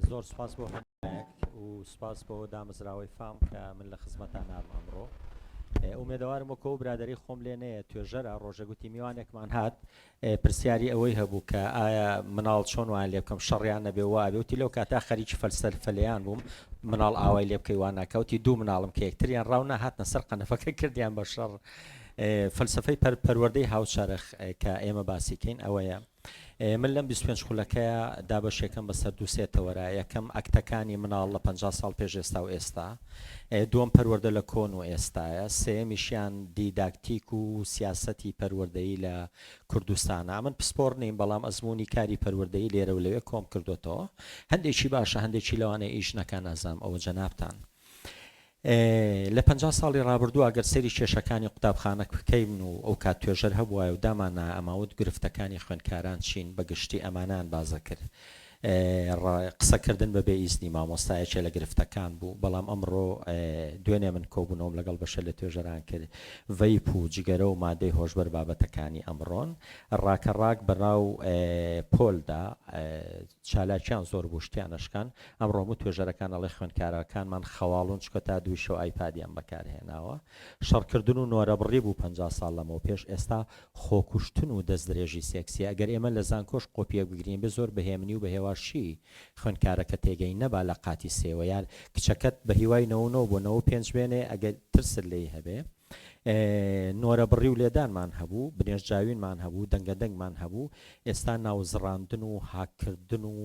زۆر سپاس بۆ هەموویەک و سپاس بۆ دامەزراوەی فام کە من لە خزمەتان نارم ئەمڕۆ ئومێدەوارم وەکۆ و برادری خۆم لێ نەیە توێژەرە ڕۆژەگوتی میوانێکمان هات پرسیاری ئەوەی هەبوو کە ئایا مناڵ چۆن وان لێ بکەم شەڕیان نەبێ وابێوتی لەو کاتا خەریکی فەلسەر فەلیان بووم مناڵ ئاوای لێ بکەی واناکەوتی دوو مناڵم کە یەکتریان ڕاو نەهاتنە سەر قەنەفەکە کردیان بە شەڕ فەلسەفەی پەروەردەی هاوچەرخ کە ئێمە باسی کەین ئەوەیە من لەم 25 خولەکەیە دابەشێکم بەسەر دو سێ تەوەرە یەکەم ئەکتەکانی مناڵ لە 50 ساڵ پێش ئێستا و ئێستا دووەم پەروەردە لە کۆن و ئێستایە سێمیشیان دیداکتیک و سیاسەتی پەروەردەی لە کوردستانە من پسپۆر نیم بەڵام ئەزمموی کاری پەروەردەی لێرە و لەوێ کۆم کردوێتەوە هەندێکی باشە هەندێکی لەوانەیە ئیش نەکە نازام ئەوە جەنابان. لە پەنجا ساڵی ڕابردوو ئەگەر سەیری کێشەکانی قوتابخانە بکەین و ئەوکات توێژەر هەبوایە و داماننایە ئەماوت گرفتەکانی خوێندکاران چین بە گشتی ئەمانەیان باس دەکرد ڕ قسە کردن بە بێ ئیزنی مامۆستا یەکێ لە گرفتەکان بوو بەڵام ئەمڕۆ دوێنێ من کۆبوونەوەم لەگەڵ بەشە لە توێژەران کرد ڤەیپ و جگەرە و مادەی هۆشبەر بابەتەکانی ئەمڕۆن ڕاکە ڕاک بەناو پۆلدا چالاکیان زۆر بوو شتیان ئەشکان ئەمڕۆ هەموو توێژەرەکان ئەڵێ خوێندکارەکانمان خەواڵوون چونکە تا دووی شەو ئایپادیان بەکار هێناوە شەڕکردن و نۆرەبڕی بوو پەنجا ساڵ لەمەو پێش ئێستا خۆکوشتن و دەست درێژی سێکسیە گەر ئێمە لە زانکۆش قۆپیەک بگرین بێ زۆر بە هێمنی و بە هێواشی خوێندکارەکە تێگەی نەبا لە قاتی سێوە یان کچەکەت بە هیوای نەوە نۆ بۆ نەوە پێنج بێنێ ئەگەر ترست لێی هەبێ نۆرەبڕی و لێدانمان هەبوو، بنێشتجاوینمان هەبوو، دەنگەدەنگمان هەبوو، ئێستا ناوزڕاندن و هاککردن و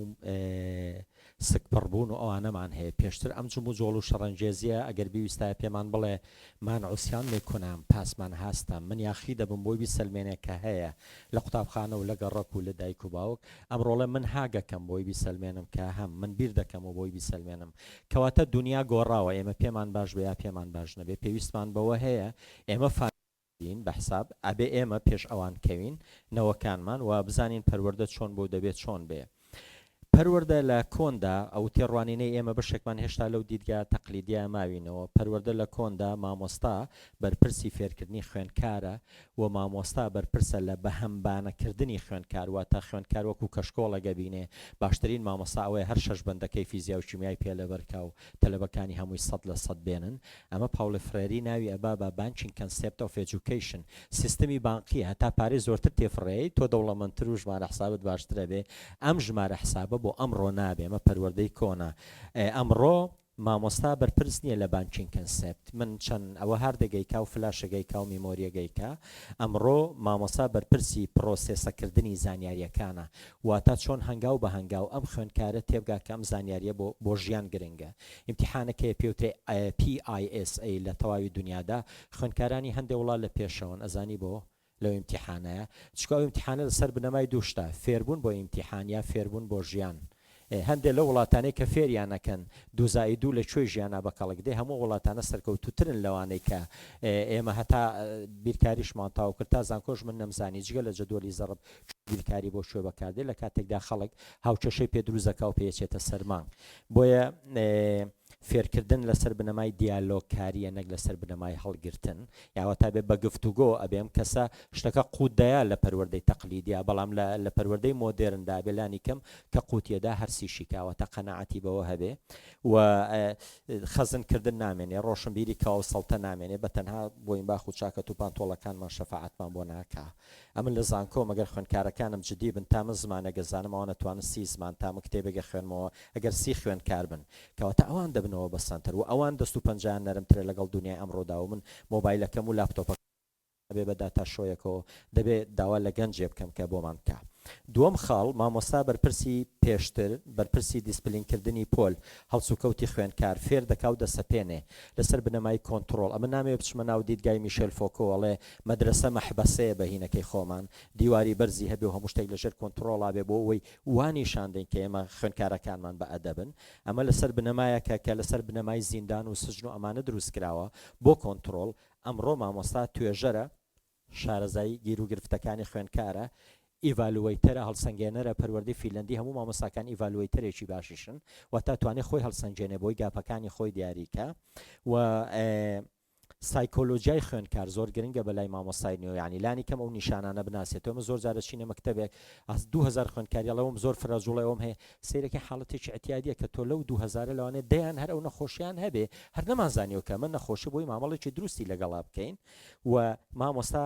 سکپڕبوون و ئەوانەمان هەیە، پێشتر ئەم جموجۆڵ و شەڕەنگێزییە ئەگەر بیویستایە پێمان بڵێ، من عصیان می کنم، پاس من هستم، من یاخی دەبم بۆی بیسەلمێنێ کە هەیە، لە قوتابخانە و لە گەڕەک و لە دایک و باوک، ئەمڕۆڵێ من هاگەکەم بۆی بیسەلمێنم کە هەم، من بیردەکەم و بۆی بیسەلمێنم کەواتە دونیا گۆڕاوە ئێمە پێمان باش بێ یا پێمان باش نەبێ پێویستمان بەوە هەیە ئێمە فا بین بە حساب ئەبێ ئێمە پێش ئەوان کەوین نەوەکانمان و بزانین پەروەردە چۆن بۆ دەبێ چۆن بێ پەروەردە لە کۆندا ئەو تێڕوانینەی ئێمە بەشێکمان هێشتا لەو دیدگا تەقلیدیا ماوینەوە پەروەردە لە کۆندا مامۆستا بەرپرسی فێرکردنی خوێنکارە و مامۆستا بەرپرسە لە بەهەمبانە کردنی خوێندکار واتە خوێندکار وەکو کەشکۆڵێک ئەبینێ باشترین مامۆستا ئەوەیە هەر شەش بەندەکەی فیزیا و کیمیای پێ لەبەرکا و تەلەبەکانی هەمووی سەد لە سەد بێنن ئەمە پاوڵ فرێری ناوی ئەبا بە Banking Concept of Education سیستمی بانقیە هەتا پارەی زۆرتر تێفڕێی تۆ دەوڵەمەندتر و ژمارە حسابت باشتر ئەبێ ئەم ژمارە حسابە بۆ ئەمڕۆ نابێ ئەمە پەروەردەی کۆنە ئەمڕۆ مامۆستا بەرپرس نیە لە بانکینگ کەنسێپت من چەن ئەوە هاردەگەیکا و فلاشەگەیکا و میمۆریەگەیکا ئەمڕۆ مامۆسا بەرپرسی پڕۆسێسە کردنی زانیاریەکانە واتا چۆن هەنگاو بە هەنگاو ئەم خوێندکارە تێبگا کە ئەم زانیاریە بۆ بۆ ژیان گرنگە ئیمتیحانەک هەیە پێوترێ PISA لە تەواوی دونیادا خوێندکارانی هەندێ وڵات لە پێشەوەن ئەزانی بۆ لەو ئیمتیحانەیا چکو ئەو ئیمتیحانە لە سەر بنەمای دوو شتە فێربوون بۆ ئیمتیحان یان فێربوون بۆ ژیان ئێ هەندێ لەو وڵاتانەی کە فێریان نەکەن دوو زائید دوو لە کوێی ژیانا بە کەڵک دێ هەموو ئەو وڵاتانە سەرکەوتووترن لەوانەی کە ئێمە هەتا بیرکاریشمان تاو کرد تا زانکۆش من نەمزانی جگە لە جەدوەلی زەڕب بیرکاری بۆ کوێ بەکاردێ لە کاتێکدا خەڵک هاوکێشەی پێ دروست دەکا و پێ چێتە سەر مانگ بۆیە فێرکردن لەسەر بنەمای دیالۆگ کاریە نەک لەسەر بنەمای هەڵگرتن یا وەتا بێ بەگفتوگۆ ئەبێ ئەم کەسە شتەکە قوت دەیا لە پەروەردەی تەقلیدیا بەڵام لە لە پەروەردەی مۆدێرن دا بێ لانی کەم کە قوتیە دا هەرسی شیکا وەتا قەناعەتی بەوە هەبێ و خەزن کردن نامێنێ ڕۆشنبیری کەوە سەڵتە نامێنێ بە تەنها بۆینباخ و چاکەت و پانتۆڵەکانمان شەفاعەتمان بۆ ناکا ئەمن لە زانکۆم ئەگەر خوێندکارەکانم جدی بن تا من زمانێگە زانم ئەوان ئەتوانن سی زمان تا من کتێبێگە خوێنمەوە ئەگەر سی خوێندکار بن کەواتە ئەوان دەبنەوە بە سەنتەر وە ئەوان دەست و پەنجەیان نەرم ترە لەگەڵ دونیای ئەمڕۆدا وە من مۆبایلەکەم و لاپتۆپەکەم نابێ بە داتا شۆیەکەوە دەبێ داوا لە گەنجێ بکەم کە بۆمان بکا دووەم خاڵ مامۆستا بەرپرسی پێشتر بەرپرسی دیسپلین کردنی پۆل هەڵسوکەوتی خوێنکار فێر دەکا و دەسەپێنێ لەسەر بنەمای کۆنتڕۆڵ ئەمن نامەوێ بچمە ناو دیدگای میشێل فۆکۆ ئەڵێ مەدرەسە مەحبەسەیە بە هینەکەی خۆمان، دیواری بەرزی هەبێ و هەموو شتێک لە ژێر کۆنتڕۆڵا بێ بۆ ئەوەی وا نیشان دەین کە ئێمە خوێندکارەکانمان بە ئەدەبن. ئەمە لە سەر بنەمایەکە کە لە سەر بنەمای زیندان و سجن و ئەمانە دروست کراوە بۆ کۆنتڕۆڵ. ئەمڕۆ مامۆستا توێژەرە، شارەزای گیروگرفتەکانی خوێندکارە، ئیڤالوەیتەرە، هەڵسەنگێنەرە، پەروەردەی فیلەندی هەموو مامۆستاکان ئیڤالوەیتەرێکی باشیشن، واتە توانێ خۆی هەڵسەنگێنێ بۆی، گاپەکانی خۆی دیاری کا و سایکۆلۆجیای خوێندکار زۆر گرنگە بەلای مامۆستای نوێ یانی لانی کەم ئەو نیشانانە بناسێت تۆ من زۆر جار ئەچینە مەکتەبێک ئەس دوو هەزار خوێندکاری ئەڵێ وەم زۆر فرە جوڵەی ئەوم هەیە سەیرەکەی حاڵەتێکی ئێعتیادیە کە تۆ لەو دوو هەزارە لەوانەیە دەیان هەر ئەو نەخۆشیان هەبێ هەر نەمانزانیوە کە ئەمە نەخۆشە بۆی مامەڵێکی دروستی لەگەڵا بکەین و مامۆستا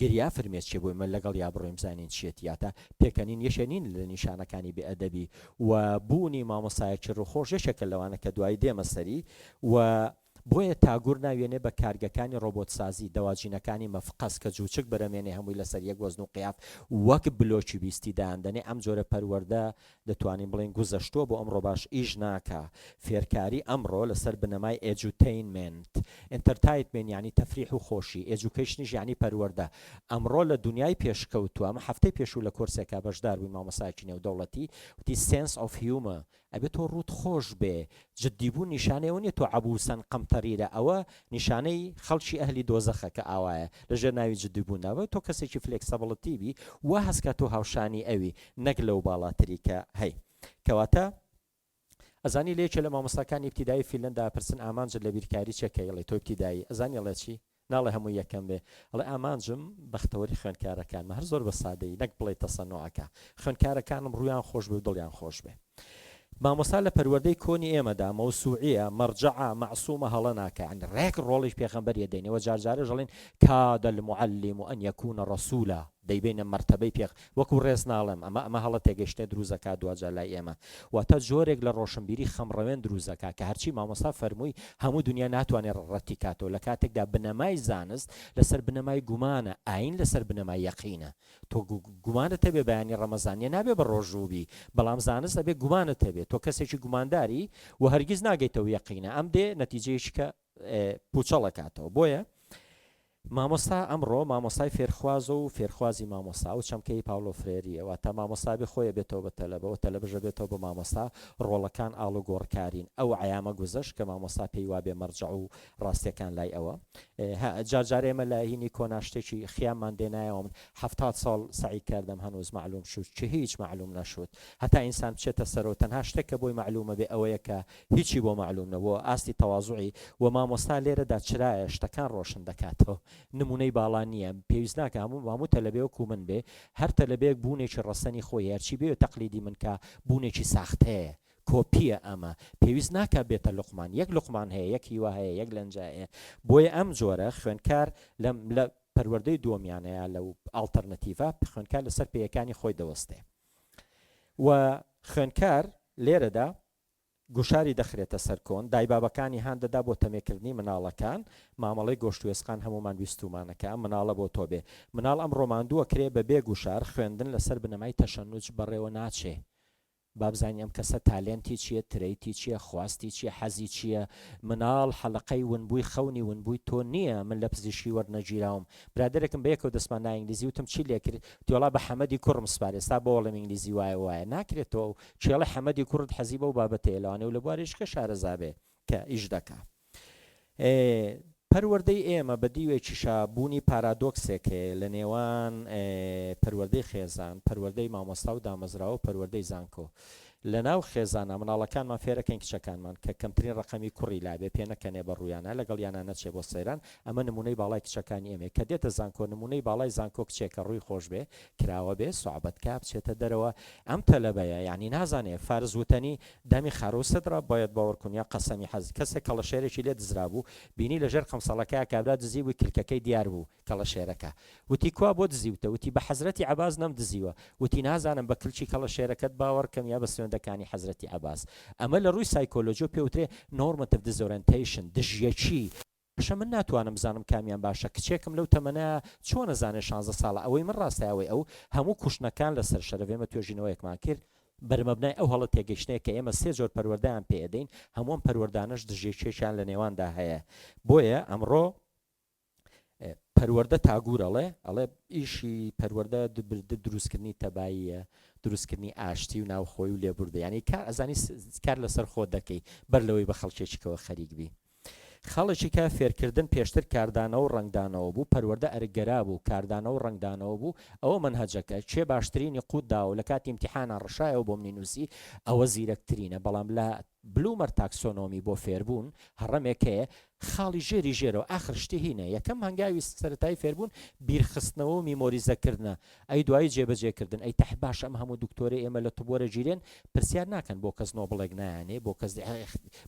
گریا فرمێسکی بووی من لەگەڵ یا بڕۆین بزانین چیەتی یا تا پێکەنین یەکێ نین لە نیشانەکانی بێ ئەدەبی و بوونی مامۆستایەکی ڕووخۆش یەکێکە لەوانە کە دوایی دێمە سەری و بۆیە تاگور ناویێنێ بە کارگەکانی ڕۆبۆت سازی دەواجینەکانی مەفقەس کە جووچک برەمێنێ هەمووی لەسەر یەک وەزن و قیاف وەک بلۆکی بیستی دایان دەنێ ئەم جۆرە پەروەردە دەتوانین بڵێین گوزەشتوە بۆ ئەمڕۆ باش ئیش ناکا فێرکاری ئەمڕۆ لەسەر بنەمای ئێجوتەینمێنت Entertainment یانی تەفریح و خۆشی ئێجوکەیشنیش یانی پەروەردە ئەمڕۆ لە دونیای پێشکەوتوە ئەمە هەفتەی پێشوو لە کۆرسێکا بەشدار بووین مامۆستایەکی نێودەوڵەتی وتی Sense of Humor ئەبێ تۆ ڕووت خۆش بێ جدی بوون نیشانەی ئەوە نیە تۆ عەبووسەن قەمتەریرە ئەوە نیشانەی خەڵکی ئەهلی دۆزەخە کە ئاوایە لە ژێر ناوی جدی بووندا بە تۆ کەسێکی فلێکسەبڵتی بی وا هەست کا تۆ هاوشانی ئەوی نەک لەو باڵاتری کە هەی کەواتە ئەزانی لە یەکێ لە مامۆستاکانی ئیبتیدایی فیلەندا ئەپرسن ئامانجت لە بیرکاری چیە کە ئیڵێ تۆ ئیبتیدایی ئەزانی ئەڵێ چی ناڵێ هەمووی یەکەم بێ ئەڵێ ئامانجم بەختەوەری خوێندکارەکانمە هەر زۆر بە سادەیی نەک بڵێی تەسەنوعەکە خوێندکارەکانم ڕوویان خۆش بێ و دڵیان خۆش بێ. مامۆستا لە پەروەردەی کۆنی ئێمەدا مەوسوعیە، مەڕجەعە، مەعسومە هەڵە ناکا یانی ڕێک ڕۆڵی پێخەمبەریە دەینێ وە جار جارەش ئەڵێن کاد المعلم ان یکون رسولا دەیبەینە مەرتەبەی پێخ وەکو ڕێز ناڵێم ئەمە ئەمە هەڵە تێگەشتنێ دروست دەکا دواجار لای ئێمە واتە جۆرێک لە ڕۆشنبیری خەمڕەوێن دروست دەکا کە هەرچی مامۆستا فەرمووی هەموو دنیا ناتوانێ ڕەتی کاتەوە لە کاتێکدا بنەمای زانست لەسەر بنەمای گومانە ئاین لەسەر بنەمای یەقینە تۆ گومانت هەبێ بەیانی ڕەمەزانیە نابێ بە ڕۆژوو بی بەڵام زانست ئەبێ گومانت هەبێ تۆ کەسێکی گومانداری و هەرگیز ناگەیتەوە یەقینە ئەم دێ نەتیجەیەکی کە پوچەڵەکاتەوە بۆیە مامۆستا ئەمڕۆ مامۆسای فێرخوازە و فێرخوازی مامۆسا و چەمکەی پاولۆ فرێریەوە تا مامۆستابی خۆیە بێتەوە بە تەلەبە و تەلەبژە بێتەوە بە مامۆستا ڕۆڵەکان ئاڵوگۆڕکارین ئەو عیامە گوزەش کە مامۆستا پێی وابێ مەرجع و ڕاستیەکان لای ئەوە هە جار جار ئێمە لە هینی کۆنا شتێکی خیاممان دێنایەوە من حەفتاد ساڵ سعی کردم هەنوز معلوم شد چ هیچ معلوم نەشد هەتا ئینسان بچێتە سەرەوە تەنها شتێک کە بۆی معلومە بێ ئەوەیە کە هیچی بۆ معلوم نەبووە ئاستی تەوازوعی و مامۆستا لێرەدا چرایە شتەکان ڕۆشن دەکاتەوە نمونەی باڵا نییە پێویست ناکە هەموو هەموو تەلەبێ وەکو من بێ هەر تەلەبێک بوونێکی ڕەسەنی خۆی هەرچی بێ تەقلیدی من کە بوونێکی ساختەیە کۆپیە ئەمە پێویست ناکا بێتە لوقمان یەک لوقمان هەیە یەک هیوا هەیە یەک لەنجە هەیە بۆیە ئەم جۆرە خوێندکار لەم لە پەروەردەی دۆمیانەیە لەو ئاڵتەرنەتیڤە خوێندکار لەسەر پێیەکانی خۆی دەوەستێ و خوێندکار لێرەدا گوشاری دەخرێتە سەر کۆن دایبابەکانی هان دەدا بۆ تەمێکردنی مناڵەکان مامەڵەی گۆشتێسقان هەمومان ویستومانەکە مناڵە بۆ تۆ بێ مناڵ ئەم ڕۆماندووە کرێ بە بێ گوشار خوێندن لەسەر بنەمای تەشەنوج بەڕێوە ناچێ بابزانین ئەم کەسە تالێنتی چیە ترەیتی چیە خواستی چیە حەزی چیە مناڵ حەلەقەی ونبوی خەونی ونبوی تۆ نیە من لەپزیشکی وەرنەگیراوم برادەرێکم بەیەکەوە دەسمان نا ئینگلیزی وتم چی لێکرد تیوەڵا بە حەمەدی کوڕم سپار ئێستا بۆڵێم ئینگلیزی وایە وایە ناکرێت تۆ ئەو کێڵی حەمەدی کوڕت حەزی بەو بابەتەیە لەوانەیە ولەبواری شکە شارەزابێ کە ئیش دەکا. ئێ پەروەردەی ئێمە بە دیوێکیشا بوونی پارادۆکسێک هەیە لە نێوان ئێ پەروەردەی خێزان، پەروەردەی مامۆستا و دامەزراوە و پەروەردەی زانکۆ. لە ناو خێزانا مناڵەکانمان فێرەکەین کچەکانمان کە کەمترین ڕەقەمی کوڕی لابێ پێ نەکەنێ بە ڕوویانا لەگەڵیانا نەچێ بۆ سەیران ئەمە نموونەی باڵای کچەکانی ئێمەیە کە دێتە زانکۆ نموونەی باڵای زانکۆ کچێکە ڕووی خۆش بێ کراوە بێ سوعبەت کا بچێتە دەرەوە ئەم تەلەبەیە یانی نازانێ فارس وتەنی دەمی خارو سدرە بایەد باوەڕ کونیا قەسەمی حەز کەسێک کەڵەشێرێکی لێ دزرابوو بینی لە ژێر قەمسەڵەکەیا کابرا دزی بووی کلکەکەی دیار بوو کەڵەشێرەکە وتی کوا بۆ دزیوتە وتی بە حەزرەتی عەباس نەم دزیوە وتی نازانم بە کلکی کەڵەشێرەکەت باوەڕ کەم یا بە سوێندە کانی حەزرەتی عەباس ئەمە لە ڕووی سایکۆلۆجیەوە پێ وترێ نۆرمەتڤ دزۆرێنتەیشن دژیەکی کچە من ناتوانم بزانم کامیان باشە کچێکم لەو تەمەنە چۆن ئەزانێ شانزە ساڵە ئەوەی من ڕاستە ئەوەی ئەو هەموو کوشتنەکان لەسەر شەرەف ئێمە توێژینەوەیەکمان کرد بەرمەبنای ئەو هەڵە تێگەیشتنەیە کە ئێمە سێ جۆر پەروەردەیان پێ ئەدەین هەموو ئەم پەروەردانەش دژیەکێکیان لە نێواندا هەیە بۆیە ئەمڕۆ پەروەردە تاگور ئەڵێ ئەڵێ ئیشی پەروەردە دبردە دروستکردنی تەباییە دروستکردنی ئاشتی و ناوخۆی و لێبوردە ینی کار ئەزانی کار لەسەر خۆ دەکەی بەر لەوەی بە خەڵکێکیکەوە خەریک بی خاڵێکی کە فێرکردن پێشتر کاردانەوە و ڕەنگدانەوە بوو، پەروەردە ئەرکگەرا بوو، کاردانەوە و ڕەنگدانەوە بوو، ئەوە مەنهەجەکە، کێ باشترینی قووت داوە و لە کاتی ئیمتیحانا ڕشایەوە بۆ منی نووسی، ئەوە زیرەکترینە، بەڵام لە بلوومەر تاکسۆنۆمی بۆ فێربوون، هەڕەمێک هەیە، خاڵی ژێری ژێرەوە، ئاخر شتی هینە، یەکەم هەنگاوی سەرەتایی فێربوون، بیرخستنەوە و میمۆریزەکردنە، ئەی دوایی جێ بەجێ کردن ئەی تەح باشە ئەم هەموو دکتۆرەی ئێمە لە طب وەرە گیرێن پرسیار ناکەن بۆ کەس نۆبڵێک نایانێ بۆ کەس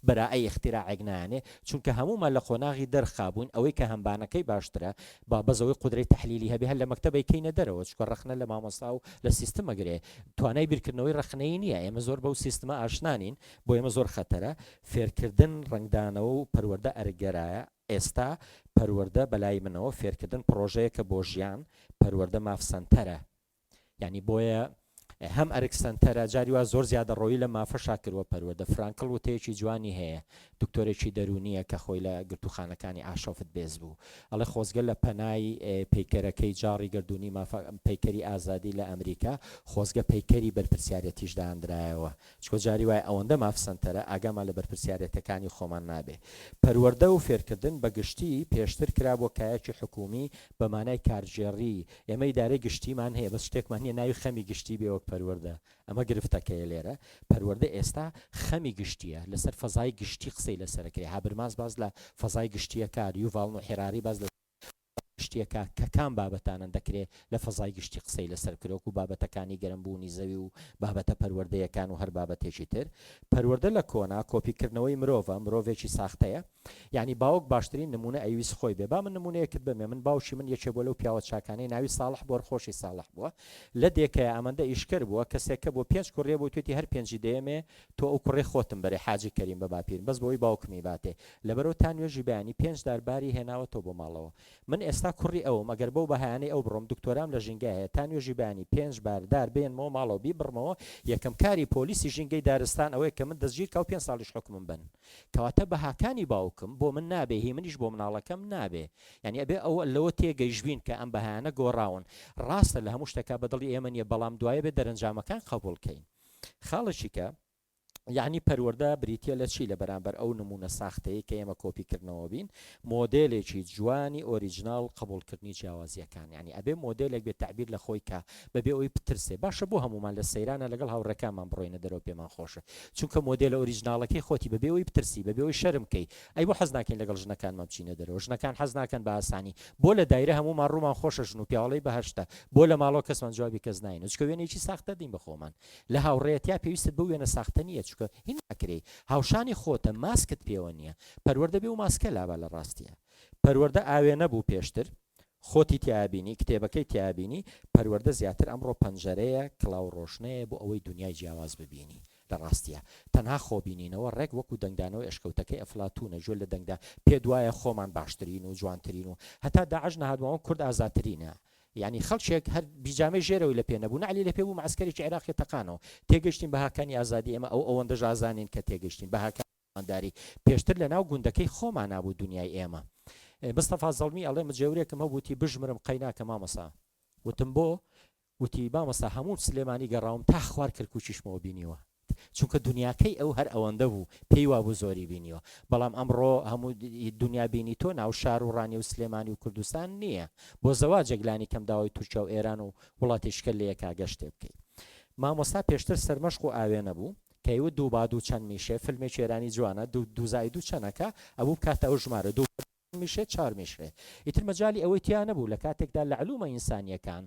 بەرائەی اختراعێک نایانێ چونکە هەموومان لە قۆناغی دەرخا بووین ئەوەی کە هەمبانەکەی باشترە با بەس ئەوەی قودرەی تەحلیلی هەبێ هەر لە مەکتەبەی کەینە دەرەوە چونکە ڕەخنە لە مامۆستا و لە سیستم مەگرێ توانای بیرکردنەوەی ڕەخنەیی نییە ئێمە زۆر بەو سیستمە ئاشنا نین بۆ ئێمە زۆر خەتەرە فێرکردن ڕەنگدانەوە و پەروەردە ئەرک گەرایە ئێستا پەروەردە بەلای منەوە فێرکردن پڕۆژەیەکە بۆ ژیان، پەروەردە ماف سەنتەرە یانی بۆیە هەم ئەرک سەنتەرە جاری وا زۆر زیادەڕۆیی لەم مافەشا کرووە پەروەردە فرانکڵ وتەیەکی جوانی هەیە دکتۆرێکی دەروونییە کە خۆی لە گرتووخانەکانی ئاشۆفت بێز بوو ئەڵێ خۆزگە لە پەنای پەیکەرەکەی جاڕی گردردونی مافە پەیکەری ئازادی لە ئەمریکا خۆزگە پەیکەری بەرپرسیارەتیش داندرایەوە چونکە جاری وایە ئەوەندە ماف سەنتەرە ئاگامان لە بەرپرسیارێتەکانی خۆمان نابێ. پەروەردە و فێرکردن بە گشتی پێشتر کرابووە کایەکی حکوومی بە مانای کارگێڕی، ئێمە ئیدارەی گشتیمان هەیە بەس شتێکمان نییە ناوی خەمی گشتی بێ وەک پەروەردە، ئەمە گرفتەکەیە لێرە، پەروەردە ئێستا خەمی گشتییە، لەسەر فەزای گشتی قسەی لەسەر ئەکرێ، هابرماس باس لە فەزای گشتییە کار، یوڤاڵ نوح هێراری باس لە. فەزا گشتییەکە کە کام بابەتانەن دەکرێ لە فەزای گشتی قسەی لەسەر بکرێ وەکوو بابەتەکانی گەرم بوونی زەوی و بابەتە پەروەردەیەکان و هەر بابەتێکی تر پەروەردە لە کۆنا کۆپی کردنەوەی مرۆڤە مرۆڤێکی ساختەیە یانی باوک باشترین نموونە ئەیویست خۆی بێ با من نموونەیەکت بەمێ من باوکی من یەکێ بۆ لەو پیاوە چاکانەی ناوی ساڵح بۆر خۆشی ساڵح بووە لە دێکەیە ئەمەندە ئیشکەر بووە کەسێکە بۆ پێنج کوڕیە بۆ توێتی هەر پێنجی دەیەمێ تۆ ئەو کوڕەی خۆتم بەرێ حاجی کەریم بە باپیرم بەس بەوەی باوکمی باتێ لەبەرو تا نوێژی بەیانی پێنج دار باری هێناوەتەوە بۆ ماڵەوە من ئێستا کوڕی ئەوم ئەگەر بەو بەهایانەی ئەو بڕۆم دکتۆرام لە ژینگە هەیە تا نوێژی بەیانی پێنج بار دار بێنمەوە ماڵەوە بیبڕمەوە یەکەم کاری پۆلیسی ژینگەی دارستان ئەوەیە کە من دەستگیر کا و پێنج ساڵیش حوکمم بەن کەواتە بەهاکانی باوکم بۆ من نابێ هی منیش بۆ مناڵەکەم نابێ یانی ئەبێ ئەو لەوە تێگەیشبین کە ئەم بەهایانە گۆڕاون ڕاستە لە هەموو شتەکە بە دڵی ئێمە نیە بەڵام دوایە بێ دەرەنجامەکان قەبوڵ کەین. خاڵێکی کە یەعنی پەروەردە بریتیە لە چی لە بەرامبەر ئەو نمونە ساختەیەی کە ئێمە کۆپی کردنەوە بین مۆدێلێکی جوانی ئۆریجنناڵ قبولکردنی جیاوازیەکان یعنی ئەبێ مۆدێلێک بێت تعبیر لە خۆی کە بەبێ ئەوی پترسێ باشە بۆ هەمومان لە سەیرانە لەگەڵ هاوڕێکانمان بڕۆینە دەرەوە پێمان خۆشە چونکە مۆدێلە ئۆریجنناڵەکەی خۆتی بەبێ ئەوی پترسی بەبێ ئەوی شەرمکەی ئەی بۆ حەز ناکەین لەگەڵ ژنەکانمان بچینە دەرەوە ژنەکان حەز ناکەن بە ئاسانی بۆ لە دایرە هەموومان ڕوومان خۆشە ژن و پیاوەڵی بەهەشتە بۆ لە ماڵەوە کەسمان جوابی کەس ناینە چکە وێنەیەکی ساختە دین بە خۆمان لە هاوڕێیەتیا پێویستت بەو وێنە ساختە نییە چکە هی ناکرێی هاوشانی خۆتە ماسکت پێوە نییە پەروەردە بێ و ماسکە لابە لە ڕاستیا پەروەردە ئاوێنە بوو پێشتر خۆتی تیایا بینی، کتێبەکەی تیایا بینی، پەروەردە زیاتر ئەمڕۆ پەنجەرەیە، کڵاو و ڕۆشنەیە بۆ ئەوەی دونیای جیاواز ببینی لە ڕاستیا. تەنها خۆبینینەوە ڕێک وەکو دەنگدانەوەی ئەشکەوتەکەی ئەفلاتوونە جۆ لە دەنگدا، پێت وایە خۆمان باشترین و جوانترین و هەتا داعش نەهات ماوە کورد ئازاترینە، یانی خەڵکێک هەر بیجامەی ژێرەوەی لە پێ نەبوو، نەعلی لە پێ بوو مەعسکەرێکی عێراقی تەقانەوە، تێگەشتین بەهاکانی ئازادی ئێمە ئەو ئەوەندەش ئازانین کە تێگەشتین بەهاکانی. داری پێشتر لە ناو گوندەکەی خۆمانا بوو دونیای ئێمە مستەفا زەڵمی ئەڵێ مجێورێکم هەبوو وتی بژمرم قەیناکە مامۆسا وتم بۆ وتی مامۆسا هەموو سلێمانی گەڕاوم تا خوار کرکوچیشمەوە بینیوە چونکە دنیاکەی ئەو هەر ئەوەندە بوو پێی وابوو زۆری بینیوە بەڵام ئەمڕۆ هەموو دنیا بینی تۆ ناو شار و ڕانی و سلێمانی و کوردستان نییە بۆ زەوا جەگلانی کەم داوای تورکیا و ئێران و وڵاتی شکە لەیەکا گەشتێ بکەیت مامۆستا پێشتر سەرمەشق و ئاوێنە بوو کەیوت دوو با دوو چەند میشێ فلمێکی ئێرانی جوانە دوو دوو زائید دوو چەن ئەکا ئەوە بکاتە ئەو ژمارە دوو با دوو چەند میشێ چوار میشێ ئیتر مەجالی ئەوەی تیا نەبوو لە کاتێکدا لە علومە ئینسانیەکان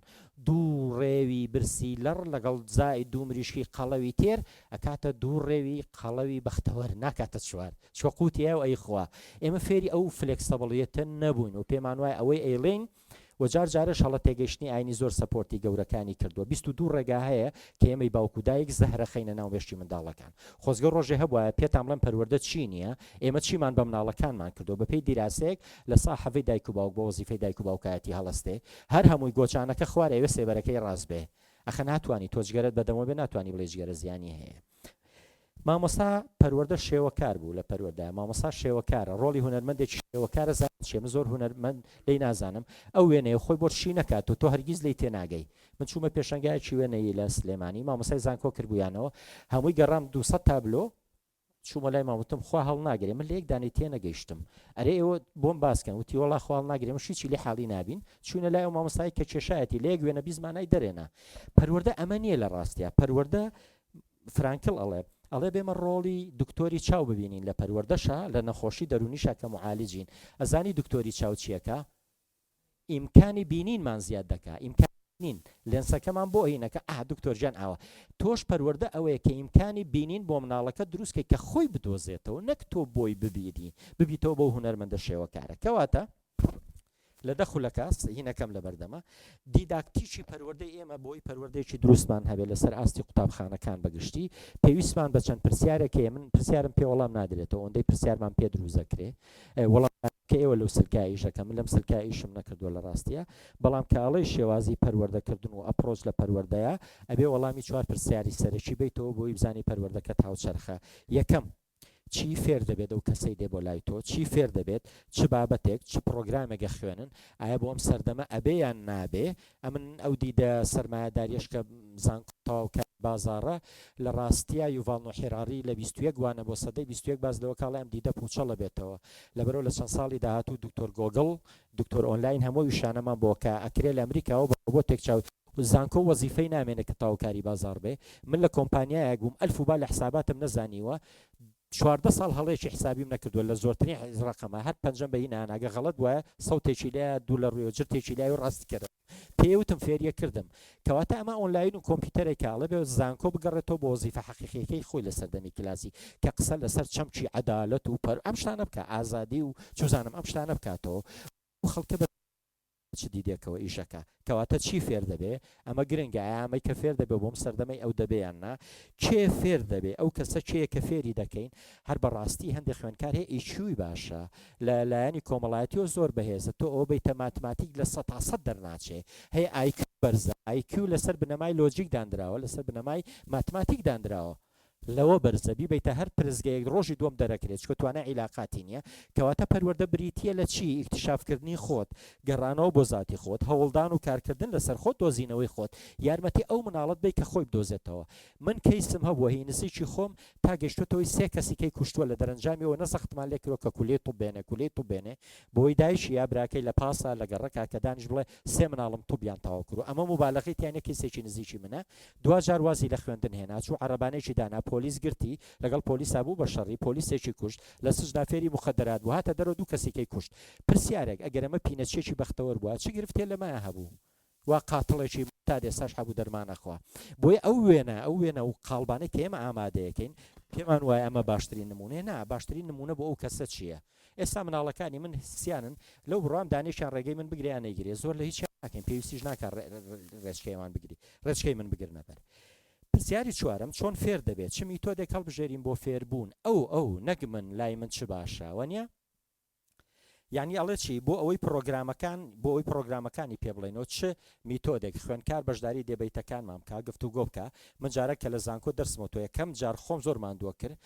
دوو ڕێوی برسی لەڕ لەگەڵ زائید دوو مریشکی قەڵەوی تێر ئەکاتە دوو ڕێوی قەڵەوی بەختەوەر ناکاتە چوار چۆقوو تیایە و ئەی خوا ئێمە فێری ئەو فلێکسەبڵیەتە نەبووین و پێمان وایە ئەوەی ئەیڵێین و جار جارەش هەڵە تێگەیشتنی ئاینی زۆر سەپۆرتی گەورەکانی کردوە بیست و دوو ڕێگا هەیە کە ئێمەی باوک و دایک زەهرە خەینە ناو مێشکی منداڵەکان خۆزگە ڕۆژێ هەبوایە پێتان بڵێم پەروەردە چی نیە ئێمە چیمان بە مناڵەکانمان کردوە بە پێی دیراسەیەک لە سا حەڤی دایک و باوک بۆ وەزیفەی دایک و باوکایەتی هەڵەستێ هەر هەمووی گۆچانەکە خوار ئەوێ سێبەرەکەی ڕاست بێ ئەخە ناتوانی تۆ جگەرەت بەدەمەوە بێ ناتوانی بڵێ جگەرە زیانی هەیە مامۆستا پەروەردە شێوەکار بوو لە پەروەردە مامۆستا شێوەکارە ڕۆڵی هونەرمەندێکی شێوەکارە زانیت چیە من زۆر هونەرمەند لێی نازانم ئەو وێنەیە خۆی بۆت شی نەکات و تۆ هەرگیز لێی تێناگەی من چوومە پێشەنگایەکی وێنەیی لە سلێمانی مامۆستای زانکۆ کردبوویانەوە هەمووی گەڕام دوو سەد تابلۆ چوومە لای مام وتم خوا هەڵناگرێ من لە یەک دانەی تێ نەگەیشتم ئەرێ ئێوە بۆم باس کەن وتی وەڵا خوا هەڵناگرێ مەشی چی لێ حاڵی نابین چووینە لای ئەو مامۆستای کە کێشایەتی لە یەک وێنە بیست مانای دەرێنا پەروەردە ئەمە نییە لە ڕاستیا پەروەردە فرانکل ئەڵێ ئەڵێ بێمە ڕۆڵی دکتۆری چاو ببینین لە پەروەردەشا لە نەخۆشی دەرونیشا کە معالجین ئەزانی دکتۆری چاو چیەکا ئیمکانی بینینمان زیاد دەکا ئیمکان نین لێنسەکەمان بۆ ئەینەکە ئا دکتۆر ژیان ئاوە تۆش پەروەەردە ئەوەیە کە ئیمکانی بینین بۆ مناڵەکە دروستکەی کە خۆی بدۆزێتەوە نەک تۆ بۆی ببیری ببیتەوە بۆ هوەرمەندە شێوەکارە کەواتە لە دە خولەکە، سهینەکەم لەبەردەمە، دیداکتیکی پەروەردەی ئێمە بۆی پەروەردەیەکی دروستمان هەبێت لەسەر ئاستی قوتابخانەکان بە گشتی، پێویستمان بە چەند پرسیارێک هەیە، من پرسیارم پێ وەڵام نادرێتەوە، ئەوەندەی پرسیارمان پێ دروستدەکرێ، وەڵام کە ئێوە لەو سلکە ئیش دەکەن، من لەم سلکە ئیشم نەکردووە لە راستییە، بەڵام کە ئەڵێی شێوازی پەروەردەکردن و ئەپرۆچ لە پەروەردەیە، ئەبێ وەڵامی چوار پرسیاری سەرەکی بەیتەوە بۆی بزانی پەروەردەکەت هاوچەرخە، یەکەم، چی فێر دەبێت ئەو کەسەی دێ بۆ لای تۆ چی فێر دەبێت چ بابەتێک چ پڕۆگرامێک ئەخوێنن ئایە بۆ ئەم سەردەمە ئەبێ یان نابێ ئەمن ئەو دیدە سەرمایەداریەش کە زانکۆ تەواوکە بازاڕە لە ڕاستیا یوڤاڵ نۆ حیراڕی لە بیست و یەک وانە بۆ سەدەی بیست و یەک باس لەوە کاڵێ ئەم دیدە پووچەڵە بێتەوە لەبەرەو لە چەند ساڵی داهاتوو دوکتۆر گۆگڵ دوکتۆر ئۆنلاین هەموو ئەو ویشانەمان بۆ کە ئەکرێ لە ئەمریکاوە بۆ تێک چاو زانکۆ وەزیفەی نامێنێ کە تەواو کاری بازاڕ بێ من لە کۆمپانیایەک بووم ئەلف و با لە حساباتم نەزانیوە چواردە ساڵ هەڵەیەکی حسابیم نەکردووە لە زۆرترین ڕەقەمە هەر پەنجەم بەی ناناگە غەڵەت وایە سەوتێکی لە دوو لە ڕوێوە جرتێکی لای و ڕاستی کردم پێی وتم فێریە کردم کەواتە ئەمە ئۆنلاین و کۆمپیوتەرێک کاڵە بێ زانکۆ بگەڕێتەوە بۆ وەزیفە حەقیقیەکەی خۆی لە سەردەمی کلاسی کە قسە لەسەر چەمکی عەدالەت و پەر ئەم شتانە بکە ئازادی و چوزانم ئەم شتانە بکاتەوە خەڵکە بە چ دیدێکەوە ئیش ئەکا؟ کەواتە چی فێر دەبێ؟ ئەمە گرنگە ئایا ئەمەی کە فێر دەبێ بۆم سەردەمەی ئەو دەبێ یان نا؟ کێ فێر دەبێ؟ ئەو کەسە کێیە کە فێری دەکەین؟ هەر بە ڕاستی هەندێ خوێندکار هەیە ئی کیوی باشە لە لایەنی کۆمەڵایەتیەوە زۆر بەهێزە تۆ ئەوە بەیتە ماتماتیک لە سەد تا سەد دەرناچێ هەیە ئای کیو بەرزە ئای کیو لەسەر بنەمای لۆجیک داندراوە لەسەر بنەمای ماتماتیک داندراوە لەوە بەرزە بیبەیتە هەر پرسگەیەک ڕۆژی دووەم دەرەکرێت چونکە توانای عیلاقاتی نیە کەواتە پەروەردە بریتیە لە چی ئیکتشاف کردنی خۆت گەڕانەوە بۆ زاتی خۆت هەوڵدان و کارکردن لەسەر خۆت دۆزینەوەی خۆت یارمەتی ئەو مناڵەت بەی کە خۆی بدۆزێتەوە من کەیسم هەبووە هی نزیکی خۆم تا گەشتۆتە هۆی سێ کەسی کەی کوشتووە لە دەرەنجامی ئەوە نەزەختمان لێ کردووە کە کولیەی طوب بێنێ کولیەی طوب بێنێ بۆی دایکی یا براکەی لە پاسا لە گەڕەکا کە دانیشت بڵێ سێ مناڵم طوبیان تەواو کردووە ئەمە موبالەغەی تیا نیە کەیسێکی نزیکی منە دواجار وازی لە خوێندن هێنا چوو عەڕبانێکی دانا پۆلیس گرتی لەگەڵ پۆلیسا بوو بە شەڕی پۆلیسێکی کوشت لە سجنا فێری موخەدەرات بوو هاتە دەرەوە دوو کەسی کەی کوشت پرسیارێک ئەگەر ئەمە پینەچیەکی بەختەوەر بووە چ گرفتێ لەمەیا هەبوو وا قاتڵێکی تا دێستاش هەبوو دەرمان ئەخوا بۆیە ئەو وێنە ئەو وێنە و قاڵبانەی کە ئێمە ئامادەیەکەین پێمان وایە ئەمە باشترین نموونەیە نا باشترین نموونە بۆ ئەو کەسە چیە ئێستا مناڵەکانی من سیانن لەو بڕوام دانێکیان ڕێگەی من بگرێ یان نەیگرێ زۆر لە هیچیان ناکەین پێویستیش ناکا ڕێچکەیەمان بگری ڕێچکەی من بگرنە بەر پرسیاری چوارەم چۆن فێر دەبێت چ میتۆدێک هەڵبژێرین بۆ فێربوون ئەو ئەو نەک من لای من چ باشە وە نیە یعنی ئەڵێ چی بۆ ئەوەی پرۆگرامەکان بۆ ئەوی پرۆگرامەکانی پێ بڵێنەوە چ میتۆدێک خوێنکار بەشداری دەبیتەکانمان بکە گفتو گۆ بکە من جارە کە لە زانکۆ دەرسمەوە تۆ یەکەم جار خۆم زۆر ماندووە کرد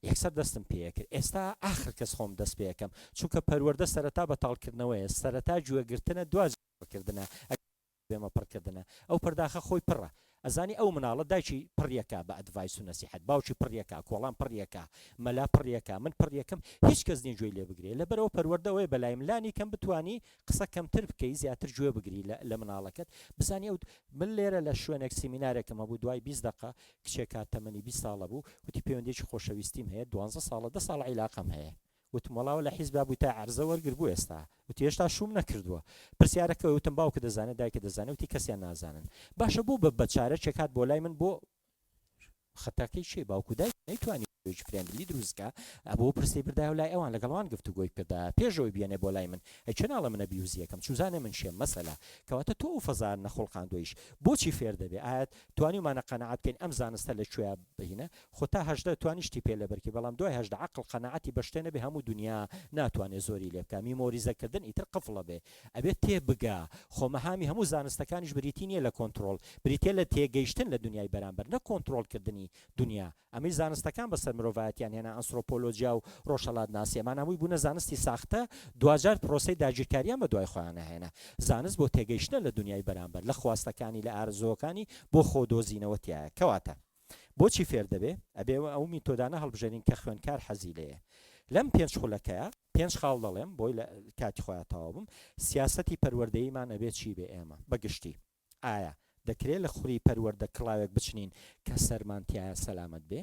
یەکسەر دەستم پێکرد ئێستا ئاخر کەس خۆم دەست پێکەم چونکە پەروەردە سەرەتا بە تاڵکردنەوەیە سەرەتا گوێ گرتنە دواجار قسە کردنە ئەگەر بێمە پڕ کردنە ئەو پەرداخە خۆی پڕە ئەزانی ئەو مناڵە دایکی پڕ یەکە بە ئەدڤایس و نەسیحەت باوکی پڕ یەکە کۆڵان پڕ یەکە مەلا پڕ یەکە من پڕ یەکم هیچ کەس نیە گوێی لێ بگرێ لەبەرئەوە پەروەردە ئەوەیە بەلایم لانی کەم بتوانی قسە کەمتر بکەی زیاتر گوێ بگری لە لە مناڵەکەت بزانی ئەو من لێرە لە شوێنێک سیمینارێکم هەبوو دوای بیست دەقە کچێکا تەمەنی بیست ساڵە بوو وتی پەیوەندیەکی خۆشەویستیم هەیە دوانزە ساڵە دە ساڵە عیلاقەم هەیە وتم وەڵا وەلە حیزبا بووی تا عەرزە وەرگر بۆ ئێستا وتی هێشتا شووم نەکردووە پرسیارە کەوێ وتم باوکت دەزانێ دایکت دەزانێ وتی کەسیان نازانن باشە بۆ بە بەچارەکێک هات بۆ لای من بۆ خەتاکەی چێ باوکو دای نەیتوانی فرێندلی دروستکە ئەبوو پرسی بردایە و لای ئەوان لەگەڵوان گفت و گۆی کردا پێشەوەی بێنێ بۆ لای من ئەچێ ناڵە منە بیوزیەکەم چوزانێ من شێم مەسەلا کەواتە تۆ و فەزار نەخڵقاندۆیش بۆچی فێر دەبێ ئاەت توانیومانە قەناعەت بکەین ئەم زانستە لە کوێیە بهینە خۆ تا هەژدە توانی شتی پێ لەبەرکی بەڵام دوای هەژدە عەقڵ قەناعەتی بە شتێ نەبێ هەموو دونیا ناتوانێ زۆری لێ بکا میمۆریزە کردن ئیتر قفڵە بێ ئەبێ تێ بگا خۆ مەهامی هەموو زانستەکانیش بریتی نیە لە کۆنتڕۆڵ بریتیە لە تێگەیشتن لە دونیای بەرامبەر نەک کۆنتڕۆڵ کردنی دونیا ئەمەی زانستەکان بەسەر مرۆڤایەتیان هێنا، ئەنسرۆپۆلۆجیا و ڕۆژهەڵاتناسی، ئەمان هەمووی بوونە زانستی ساختە، دواجار پرۆسەی داگیرکاریان بە دوای خۆیانە هێنا. زانست بۆ تێگەیشتنە لە دونیای بەرامبەر، لە خواستەکانی، لە ئارەزووەکانی بۆ خۆ دۆزینەوە تیایە. کەواتە بۆچی فێر دەبێ؟ ئەبێ ئەو میتۆدانە هەڵبژێرین کە خوێندکار حەزی لێیە. لەم پێنج خولەکەیا، پێنج خاڵ دەڵێم، بۆی لە کاتی خۆیا تەواو بم، سیاسەتی پەروەردەییمان ئەبێ چی بێ ئێمە، بە گشتی. ئایا دەکرێ لە خوری پەروەردە کڵاوێک بچنین کە سەرمان تیایا سەلامەت بێ؟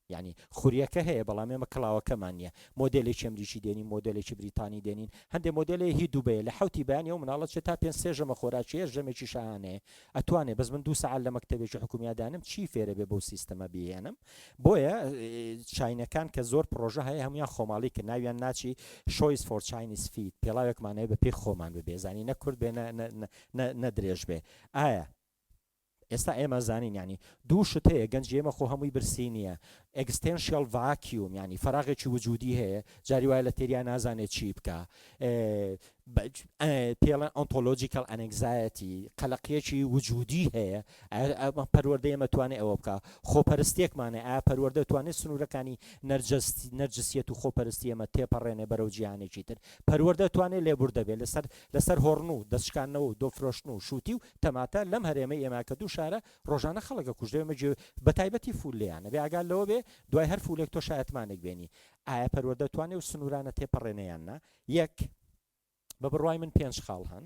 یانی خوریەکە هەیە بەڵام ئێمە کڵاوەکەمان نیە مۆدێلێکی ئەمریکی دێنین مۆدێلێکی بریتانی دێنین هەندێ مۆدێلێ هی دوبەیە لە حەوتی بەیانی ئەو مناڵە چێ تا پێنج سێ ژەمە خۆراکیە ژەمێکی شاهانەیە ئەتوانێ بەس من دوو سەعات لە مەکتەبێکی حکومیا دانم چی فێرە بێ بەو سیستەمە بیهێنم بۆیە چاینەکان کە زۆر پرۆژە هەیە هەموان خۆماڵی کە ناویان ناچی شۆیس فۆر چاینیس فیت پێڵاوێکمانەیە بە پێی خۆمان ببێزانی نە کورد بێ نە نە درێژ بێ ئایا ئێستا ئێمە زانین یانی دوو شت هەیە گەنجی ئێمە خۆ هەمووی برسی نییە ئێکستێنشیال ڤاکیوم یانی فەراغێکی وجودی هەیە جاری وایە لە تێریا نازانێت چی بکە پێڵە ئۆنتۆلۆجیکەڵ ئەنگزایەتی قەلەقیەکی وجودی هەیە ئەمە پەروەردە ئێمە توانێت ئەوە بکە خۆپەرستێکمانە ئا پەروەردە توانێت سنوورەکانی نەرجەستی نەرجسیەت و خۆپەرستی ئەمە تێپەڕێنێ بەرەو جیهانێکی تر پەروەردە توانێت لێبوردەبێت لەسەر لەسەر هۆڕن و دەست شکاندنەوە و دۆ فرۆشتن و شووتی و تەماتە لەم هەرێمەی ئێمە کە دوو شارە ڕۆژانە خەڵک ئەکوژرێ مە گوێ بە تایبەتی فوول لێیانە بێ ئاگات لەوە بێ دوای هەر فوولێک تۆ شایەتمانێک بێنی ئایا پەروەردە توانێ و سنوورانە تێپەڕێنێ یان نا یەک بە بڕوای من پێنج خاڵ هەن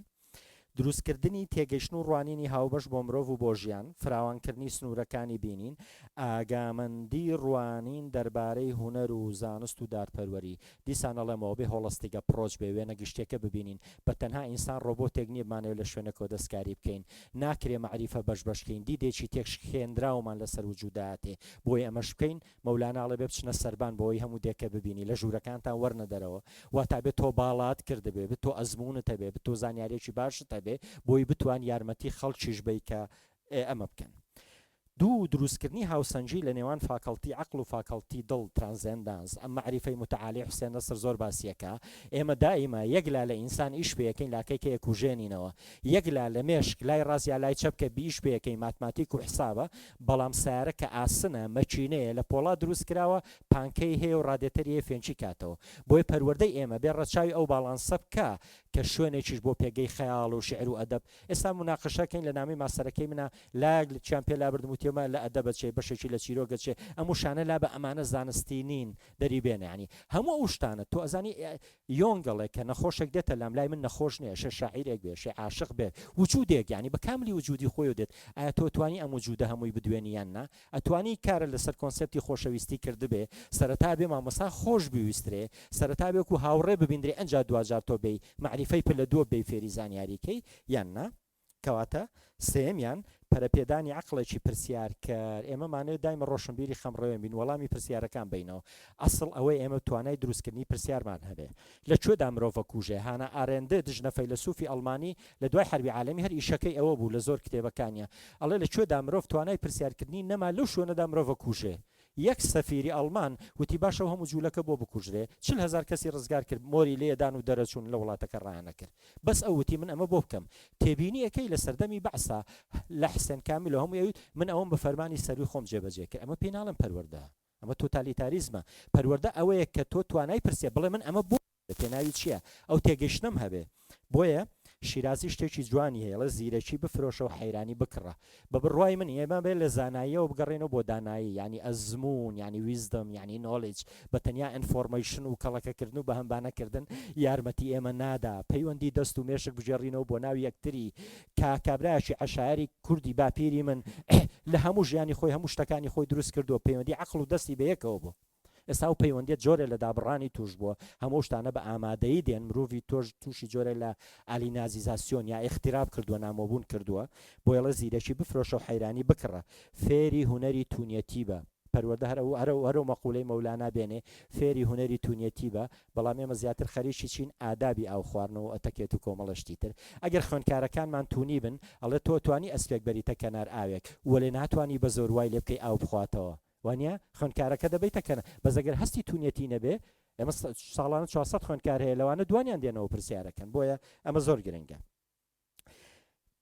دروست کردنی تێگەیشتن و ڕوانینی هاوبەش بۆ مرۆڤ و بۆ ژیان فراوان کردنی سنوورەکانی بینین ئاگامەندی ڕوانین دەربارەی هونەر و زانست و دادپەروەری دیسان ئەڵێمەوە بێ هۆڵستیگە پڕۆچ بێ وێنە گشتیەکە ببینین بە تەنها ئینسان ڕۆبۆتێک نیە بمانەوێ لە شوێنەکەوە دەستکاری بکەین ناکرێ مەعریفە بەش بەش کەین دیدێکی تێک شکێنراومان لەسەر وجودایەتێ بۆی ئەمەش بکەین مەولانا ئەڵێ بێ بچنە سەربان بەوەی هەموو دێکە ببینی لە ژوورەکانتان وەرنە دەرەوە واتا بێ تۆ باڵات کردبێ بێ تۆ ئەزموونت هەبێ بێ تۆ زانیاریەکی باشت هەبێ بۆی بتوان یارمەتی خەڵکیش بەی کە ئێ ئەمە بکەن دوو، دروستکردنی هاوسەنگی لە نێوان فاکەڵتی عەقڵ و فاکەڵتی دڵ، ترانزێندانس، ئەم مەعریفەی موتەعالی حوسێن نەسر زۆر باسی یەکا، ئێمە دائیما یەک لا لە ئینسان ئیش پێ یەکەین لاکەی کە یەکوژێنینەوە، یەک لا لە مێشک لای ڕاست یا لای چەپ کە بیش پێ یەکەین ماتماتیک و حسابە، بەڵام سەیارە کە ئاسنە، مەکینەیە، لە پۆڵا دروست کراوە، پانکەی هەیە و ڕادێتەری هەیە فێنکی کاتەوە. بۆیە پەروەردەی ئێمە بێ ڕەچاوی ئەو باڵانسە بکا کە شوێنێکیش بۆ پێگەی خەیاڵ و شیعر و ئەدەب ئێستا موناقەشە کەین لە نامەی ماستەرەکەی منا لایەک لە چیان پێ لابردم وتیەمە لە ئەدەبە چێ بەشێکی لە چیرۆکە چێ ئەم وشانە لابە ئەمانە زانستی نین دەری بێنە یانی هەموو ئەو شتانە تۆ ئەزانی یۆنگ ئەڵێ کە نەخۆشێک دێتە لام لای من نەخۆش نیە شێ شاعیرێک بێ شێ عاشق بێ وجودێک یانی بە کاملی وجودی خۆیەوە دێت ئایا تۆ توانی ئەم وجودە هەمووی بدوێنی یان نا ئەتوانی کارت لەسەر کۆنسێپتی خۆشەویستی کردبێ سەرەتا ئەبێ مامۆستا خۆش بویسترێ سەرەتا ئەبێ وەکو هاوڕێ ببیندرێ ئەنجا دواجار تۆ بێی مەعریفەی پلە دووە بێی فێری زانیاری کەی یان نا کەواتە سێیەمیان پەرەپێدانی عەقڵێکی پرسیارکەر ئێمە مانەوێ دایمە ڕۆشنبیری خەمڕەوێن بین وەڵامی پرسیارەکان بەینەوە ئەسڵ ئەوەی ئێمە توانای دروستکردنی پرسیارمان هەبێ لە کوێدا مرۆڤە کوژێ؟ هانا ئارێندت ژنە فەیلەسوفی ئەڵمانی لە دوای حەربی عالەمی هەر ئیشەکەی ئەوە بوو لە زۆر کتێبەکانیا ئەڵێ لە کوێدا مرۆڤ توانای پرسیار کردنی نەما لەو شوێنەدا مرۆڤە کوژێ یەک سەفیری ئەڵمان وتی باشە و هەموو جولەکە بۆ بکوژرێ چل هەزار کەسی ڕزگار کرد مۆری لێ دان و دەرەچوون لە وڵاتەکە ڕایانەکرد بەس ئەو وتی من ئەمە بۆ بکەم تێبینی ئەکەی لە سەردەمی بەعسا لە حسێن کامیل و هەمووی ئەویت من ئەوەم بە فەرمانی سەروی خۆم جێبەجێ کرد ئەمە پێی ناڵێم پەروەردە ئەمە تۆتالیتاریزمە. پەروەردە ئەوەیە کە تۆ توانای پرسێ بڵێ من ئەمە بۆ بووە پێناوی چییە؟ ئەو تێگەیشتنەم هەبێ. بۆیە شیرازی شتێکی جوانی هەیە ئەڵێ زیرەکی بفرۆشە و حەیرانی بکڕە. بە بڕوای من ئێمە بێ لە زاناییەوە بگەڕێینەوە بۆ دانایی یانی ئەزموون یانی ویزدم یانی نۆڵیج بە تەنیا ئینفۆڕمەیشن و کەڵەکە کردن و بەهەمبانە کردن یارمەتی ئێمە نادا پەیوەندی دەست و مێشک بگێڕینەوە بۆ ناو یەکتری کە کابرایەکی عەشایەری کوردی باپیری من لە هەموو ژیانی خۆی هەموو شتەکانی خۆی دروست کردووە پەیوەندی عەقڵ و دەستی بەیەکەوە بووە ئێستا و پەیوەندیت جۆرە لە دابڕانی توش بووە هەموو شتانە بە ئامادەی دێن مرۆڤی تۆش تووشی جۆرە لە علی نازیزاسیۆن یا ئختیراب کردووە نامۆبوون کردووە بۆیڵە زیرەکی بفرۆشە و حەیرانی بکڕە فێری هوەری تونەتی بە پەروەردە هەر ئەو هەر ئەو مەقولەی مەولانا بێنێ فێری هونەری تونیەتی بە بەڵام ئێمە زیاتر خەریکی چین ئادابی ئاو خواردن و ئەتەکێت و کۆمەڵە شتی تر ئەگەر خوێندکارەکانمان تونی بن ئەڵێ تۆ توانی ئەسپێک بەریتە کەنار ئاوێک وەلێ ناتوانی بە زۆر وای لێ بکەی ئاو بخواتەوە وانیە خوێندکارەکە دەبەیتە کەنار بەس ئەگەر هەستی تونیەتی نەبێ ئێمە ساڵانە چوار سەد خوێندکار هەیە لەوانە دوانیان دێنەوە پرسیارەکەن بۆیە ئەمە زۆر گرنگە.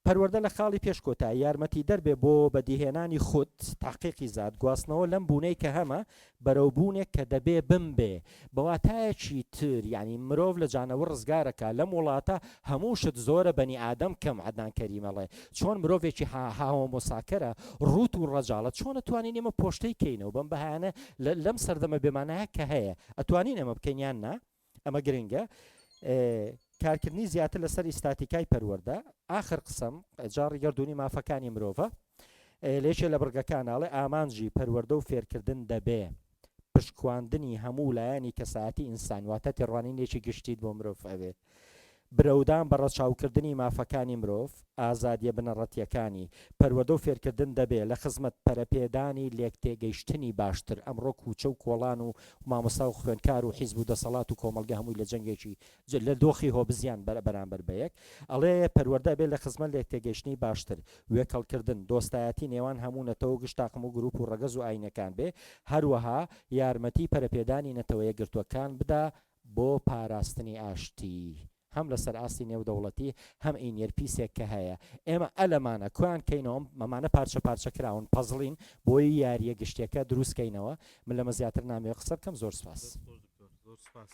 پەروەردە لە خاڵی پێش کۆتایی یارمەتیدەر بێ بۆ بەدیهێنانی خود، تەحقیقی زات، گواستنەوە لەم بوونەی کە هەمە بەرەو بوونێک کە دەبێ بمبێ. بە واتایەکی تر یانی مرۆڤ لە جانەور ڕزگارە کە لەم وڵاتە هەموو شت زۆرە بەنی ئادەم کەم عەدنان کەریم ئەڵێ چۆن مرۆڤێکی ها هاهۆمۆساکەرە ڕووت و ڕەجاڵە چۆن ئەتوانین ئێمە پۆشتەی کەینەوە بەم بەهایانە لە لەم سەردەمە بێمانایە کە هەیە ئەتوانین ئەمە بکەین یان نا؟ ئەمە گرنگە کارکردنی زیاتر لەسەر ئیستاتیکای پەروەەردە ئاخر قسم جاڕی گردردونی مافەکانی مرۆڤە لێکێ لە بڕگەکانناڵێ ئامانجی پەروەەردە و فێرکردن دەبێ پشکواندنی هەموو لایەنی کەسایەتی ئینسان واتە تێڕوانینێکی گشتیت بۆ مرۆڤ ئەوێ برەودان بە ڕەچاوکردنی مافەکانی مرۆڤ، ئازادییە بنەڕەتییەکانی، پەروەردە و فێرکردن دەبێ لە خزمەت پەرەپێدانی لێکتێگەیشتنی باشتر، ئەمڕۆ کووچە و کۆڵان و مامۆستا و خوێندکار و حیزب و دەسەڵات و کۆمەڵگە هەمووی لە جەنگێکی لە دۆخی هۆبزیان بەرانبەر بە یەک ئەڵێ پەروەردە ئەبێ لە خزمەت لێکتێگەیشتنی باشتر، وێکەڵکردن، دۆستایەتی نێوان هەموو نەتەوە و گشت تاقم و گرووپ و ڕەگەز و ئایینەکان بێ، هەروەها یارمەتی پەرەپێدانی نەتەوە یەکگرتووەکان بدا بۆ پاراستنی ئاشتی هەم لەسەر ئاستی نێودەوڵەتی هەم ئینیەر پیسێک کە هەیە ئێمە ئەلەمانە کوان کەینەوە مەمانە پارچە پارچە کراون پەزڵین بۆی یاریە گشتیەکە دروست کەینەوە من لەمە زیاتر نامەوێ قسە بکەم زۆر سپاس. دەست خۆش دکتۆر زۆر سپاس.